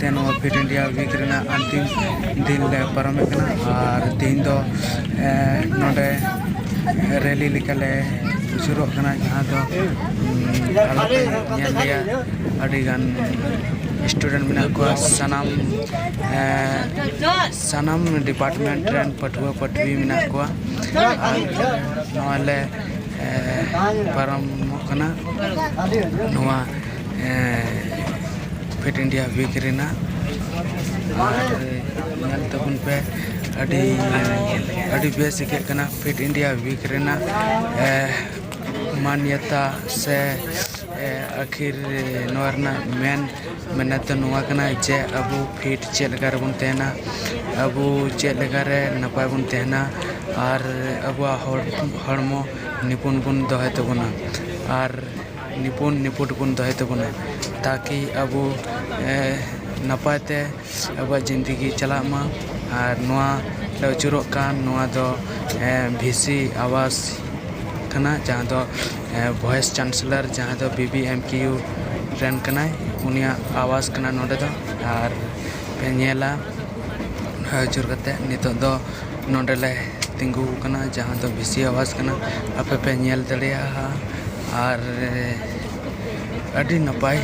ᱛᱮ ᱱᱚᱣᱟ fit India week ᱨᱮᱱᱟᱜ ᱟᱱᱛᱤᱢ ᱫᱤᱱ ᱞᱮ ᱯᱟᱨᱚᱢᱮᱫ ᱠᱟᱱᱟ ᱟᱨ ᱛᱮᱦᱮᱧ ᱫᱚ ᱱᱚᱰᱮ ᱨᱮᱞᱤ ᱞᱮᱠᱟ ᱞᱮ ᱥᱩᱨᱩᱜ ᱠᱟᱱᱟ ᱡᱟᱦᱟᱸ ᱫᱚ ᱟᱞᱮ ᱯᱮ ᱧᱮᱞ ᱞᱮᱭᱟ ᱟᱹᱰᱤ ᱜᱟᱱ ᱥᱴᱩᱰᱮᱱᱴ ᱢᱮᱱᱟᱜ ᱠᱚᱣᱟ ᱥᱟᱱᱟᱢ ᱥᱟᱱᱟᱢ ᱰᱤᱯᱟᱨᱴᱢᱮᱱᱴ ᱨᱮᱱ ᱯᱟᱹᱴᱷᱩᱣᱟᱹ ᱯᱟᱹᱴᱷᱩᱣᱤ ᱢᱮᱱᱟᱜ ᱠᱚᱣᱟ ᱟᱨ ᱱᱚᱣᱟ ᱞᱮ ᱯᱟᱨᱚᱢᱚᱜ ᱠᱟᱱᱟ ᱱᱚᱣᱟ ᱯᱷᱤᱴ ᱤᱱᱰᱤᱭᱟ ᱩᱭᱤᱠ ᱨᱮᱱᱟᱜ ᱟᱨ ᱧᱮᱞ ᱛᱟᱵᱚᱱ ᱯᱮ ᱟᱹᱰᱤ ᱟᱹᱰᱤ ᱵᱮᱥ ᱟᱹᱭᱠᱟᱹᱜ ᱠᱟᱱᱟ ᱯᱷᱤᱴ ᱤᱱᱰᱤᱭᱟ ᱩᱭᱤᱠ ᱨᱮᱱᱟᱜ ᱢᱟᱱᱭᱚᱛᱟ ᱥᱮ ᱟᱹᱠᱷᱤᱨ ᱱᱚᱣᱟ ᱨᱮᱱᱟᱜ ᱢᱮᱱ ᱢᱮᱱᱮᱛ ᱫᱚ ᱱᱚᱣᱟ ᱠᱟᱱᱟ ᱡᱮ ᱟᱵᱚ ᱯᱷᱤᱴ ᱪᱮᱫ ᱞᱮᱠᱟ ᱨᱮᱵᱚᱱ ᱛᱟᱦᱮᱱᱟ ᱟᱵᱚ ᱪᱮᱫ ᱞᱮᱠᱟ ᱨᱮ ᱱᱟᱯᱟᱭ ᱵᱚᱱ ᱛᱟᱦᱮᱱᱟ ᱟᱨ ᱟᱵᱚᱣᱟᱜ ᱦᱚᱲᱢᱚ ᱱᱤᱯᱩᱱ ᱵᱚᱱ ᱫᱚᱦᱚᱭ ᱛᱟᱵᱚᱱᱟ ᱟᱨ ᱱᱤᱯᱩᱱ ᱱᱤᱯᱷᱩᱴ ᱵᱚᱱ ᱫᱚᱦᱚᱭ ᱛᱟᱵᱚᱱᱟ ᱛᱟᱠᱤ ᱟᱵᱚ ᱱᱟᱯᱟᱭ ᱛᱮ ᱟᱵᱚᱣᱟᱜ ᱡᱤᱱᱫᱮᱜᱤ ᱪᱟᱞᱟᱜ ᱢᱟ ᱟᱨ ᱱᱚᱣᱟ ᱞᱮ ᱟᱹᱪᱩᱨᱚᱜ ᱠᱟᱱ ᱱᱚᱣᱟ ᱫᱚ ᱵᱷᱤ ᱥᱤ ᱟᱵᱟᱥ ᱠᱟᱱᱟ ᱡᱟᱦᱟᱸ ᱫᱚ ᱵᱷᱚᱭᱮᱥ ᱪᱟᱱᱥᱮᱞᱟᱨ ᱡᱟᱦᱟᱸ ᱫᱚ ᱵᱤ ᱵᱤ ᱮᱢ ᱠᱤᱭᱩ ᱨᱮᱱ ᱠᱟᱱᱟᱭ ᱩᱱᱤᱭᱟᱜ ᱟᱵᱟᱥ ᱠᱟᱱᱟ ᱱᱚᱰᱮ ᱫᱚ ᱟᱨ ᱯᱮ ᱧᱮᱞᱟ ᱟᱹᱪᱩᱨ ᱠᱟᱛᱮᱫ ᱱᱤᱛᱚᱜ ᱫᱚ ᱱᱚᱸᱰᱮ ᱞᱮ ᱛᱤᱸᱜᱩ ᱟᱠᱟᱱᱟ ᱡᱟᱦᱟᱸ ᱫᱚ ᱵᱤᱥᱤ ᱟᱵᱟᱥ ᱠᱟᱱᱟ ᱟᱯᱮ ᱯᱮ ᱧᱮᱞ ᱫᱟᱲᱮᱭᱟᱜᱼᱟ ᱟᱨ ᱟᱹᱰᱤ ᱱᱟᱯᱟᱭ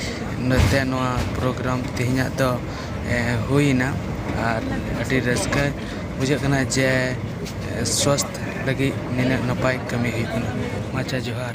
ᱱᱚᱛᱮ ᱱᱚᱣᱟ ᱯᱨᱳᱜᱨᱟᱢ ᱛᱮᱦᱮᱧᱟᱜ ᱫᱚ ᱦᱩᱭᱮᱱᱟ ᱟᱨ ᱟᱹᱰᱤ ᱨᱟᱹᱥᱠᱟᱹ ᱵᱩᱡᱷᱟᱹᱜ ᱠᱟᱱᱟ ᱡᱮ ᱥᱟᱥᱛᱷ ᱞᱟᱹᱜᱤᱫ ᱱᱤᱱᱟᱹᱜ ᱱᱟᱯᱟᱭ ᱠᱟᱹᱢᱤ ᱦᱩᱭᱩᱜ ᱠᱟᱱᱟ ᱢᱟ ᱟᱪᱪᱷᱟ ᱡᱚᱦᱟᱨ